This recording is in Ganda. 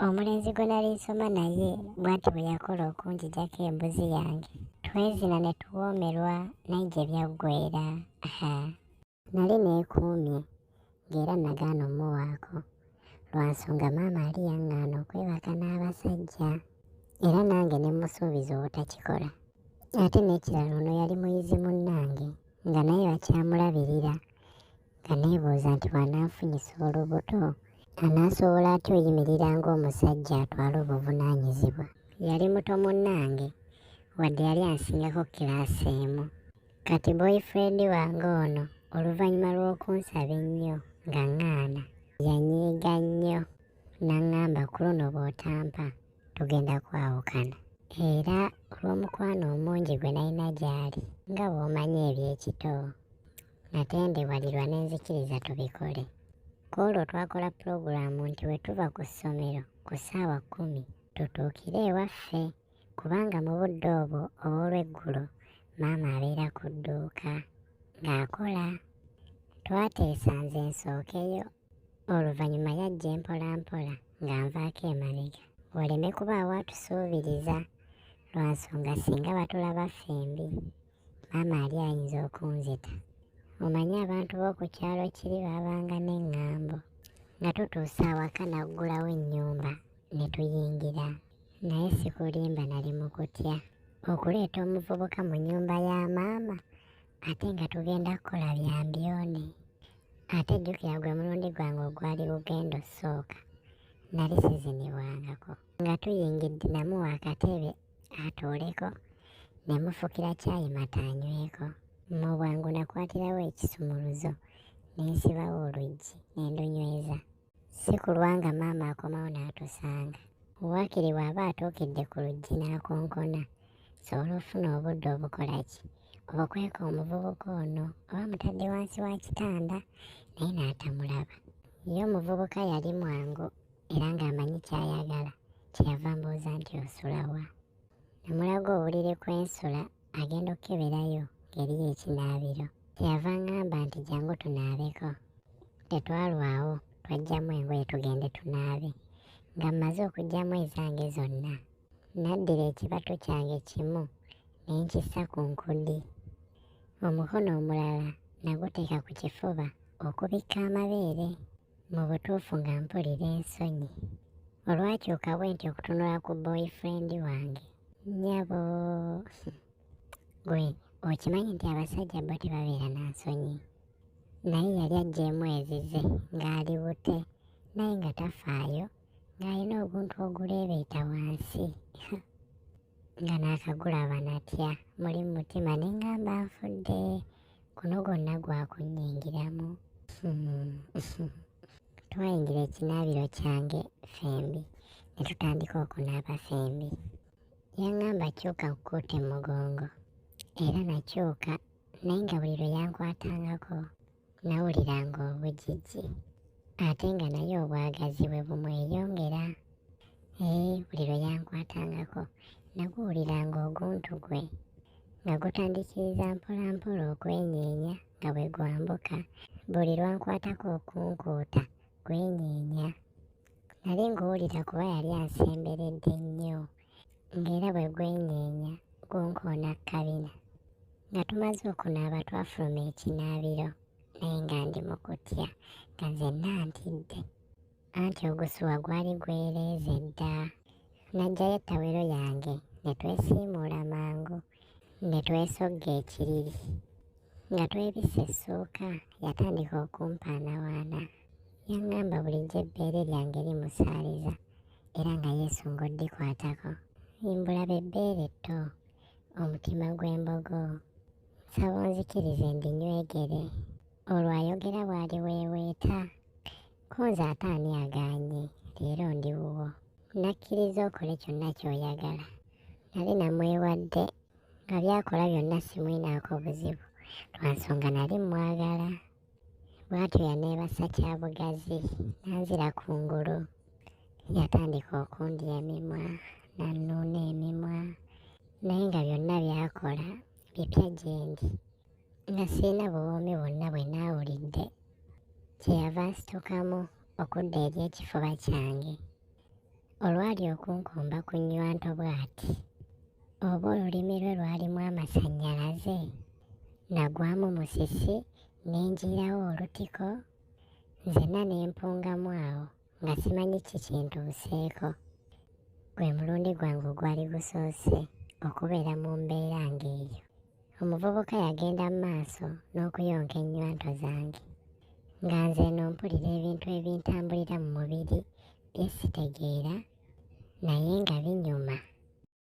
omulenzi gwe nali nsoma naye bwati bwe yakola okunjijako embuzi yange twezina ne tuwoomerwa naye gye byaggwera nali neekuumye ng'era nagaana omuwaako lwa nsonga maama ali yaŋŋaana okwebaka n'abasajja era nange ne musuubiza obutakikola ate n'ekirala ono yali muyizi munnange nga naye bakyamulabirira nga neebuuza nti bw'anaafunyisa olubuto anaasobola atya oyimirira ng'omusajja atwala obuvunaanyizibwa yali muto munnange wadde yali ansingako kiraasi emu kati boyfriend wange ono oluvannyuma lw'okunsaba ennyo nga ŋŋaana yanyiiga nnyo n'aŋŋamba ku luno bw'otampa tugenda kwawukana era olw'omukwano omungi gwe nalina gy'ali nga bw'omanyi eby'ekito natendebwalirwa n'enzikiriza tubikole ku olwo twakola pulogulaamu nti bwe tuva ku ssomero ku ssaawa kkumi tutuukire ewaffe kubanga mu budde obwo obw'olweggulo maama abeera ku dduuka ng'akola twateesa nze nsookeyo oluvannyuma yajja empolampola nga nvaako emabega waleme kubaawo atusuubiriza lwa nsonga singa batulaba ffembi maama ali ayinza okunzita omanyi abantu b'oku kyalo kiri baabanga n'eŋŋambo nga tutuuse awaka naggulawo ennyumba ne tuyingira naye sikulimba nali mu kutya okuleeta omuvubuka mu nnyumba ya maama ate nga tugenda kukola bya mbyone ate jjukira gwe mulundi gwange ogwali bugenda osooka nali sizinibwangako nga tuyingidde namu wakatebe atuuleko ne mufukira kyayi mata anyweko mu bwangu nakwatirawo ekisumuluzo ne nsibawo oluggi ne ndunyweza si kulwa nga maama akomawo n'atusanga waakiri bw'aba atuukidde ku luggi n'akonkona sobola ofuna obudde obukola ki obukweka omuvubuka ono oba mutadde wansi wa kitanda naye n'atamulaba ye omuvubuka yali mwangu era ng'amanyi ky'ayagala kyeyava mbuuza nti osula wa namulaga obuliri kwensula agenda okukeberayo ngeri yekinaabiro kyeyava ngamba nti jangu tunaabeko tetwalwawo twajjamu engoye tugende tunaabe nga mmaze okugyamu ezange zonna naddira ekibatu kyange kimu ne nkissa ku nkudi omukono omulala naguteeka ku kifuba okubikka amabeere Mu butuufu nga mpulira ensonyi olwakyuka bwe nti okutunula ku boyfriend wange nyabo gwe okimanyi nti abasajja bo tebabeera na nsonyi naye yali ajjeemu ezize ng'ali bute naye nga tafaayo ng'alina oguntu oguleebeeta wansi nga naakagulaba natya muli mu mutima ne ngamba nfudde guno gwonna gwakunnyingiramu twayingira ekinaabiro kyange ffembi ne tutandika okunaaba ffembi yaŋŋamba kyuka nkukuute mu mugongo era nakyuka naye nga buli lwe yankwatangako nawuliranga obujiji ate nga naye obwagazi bwe bumweyongera Ee, buli lwe yankwatangako naguwuliranga oguntu gwe nga gutandikiriza mpolampola okwenyeenya nga bwe gwambuka buli lwankwatako okunkuuta gwenyeenya nali nguwulira kuba yali ansemberedde nnyo ng'era bwe gwenyeenya gunkoona kabina nga tumaze okunaaba twafuluma ekinaabiro naye nga ndi mu kutya nga nzenna ntidde anti ogusuwa gwali gwereeza edda najjayo ettawero yange ne twesiimuula mangu ne twesogga ekiriri nga twebisa essuuka yatandika okumpaanawaana yaŋŋamba bulijjo ebbeere lyange limusaaliza era nga yesu ng'oddikwatako imbulaba ebbeere etto omutima gw'embogo nsaba onzikirize ndinywegere olwo ayogera bw'ali weeweeta Konze ate ani agaanye leero ndi wuwo nakkiriza okole kyonna ky'oyagala nali namwewadde nga byakola byonna simwinaako buzibu lwa nsonga nali mmwagala bw'atyo yaneebasa kya bugazi n'anzira ku ngulu yatandika okundya emimwa n'annuuna emimwa naye nga byonna byakola bipya gyendi nga sirina buwoomi bwonna bwe naawulidde kyeyava nsitukamu okudda eri ekifuba kyange olwali okunkomba ku nnywanto bw'ati oba olulimi lwe lwalimu amasannyalaze nagwamu musisi ne njiirawo olutiko nzenna ne mpungamu awo nga simanyi ki kintuuseeko gwe mulundi gwange ogwali gusoose okubeera mu mbeera ng'eyo Omuvubuka yagenda mu maaso n'okuyonka ennywanto zange nga nze eno mpulira ebintu ebintambulira mu mubiri bye sitegeera naye nga binyuma.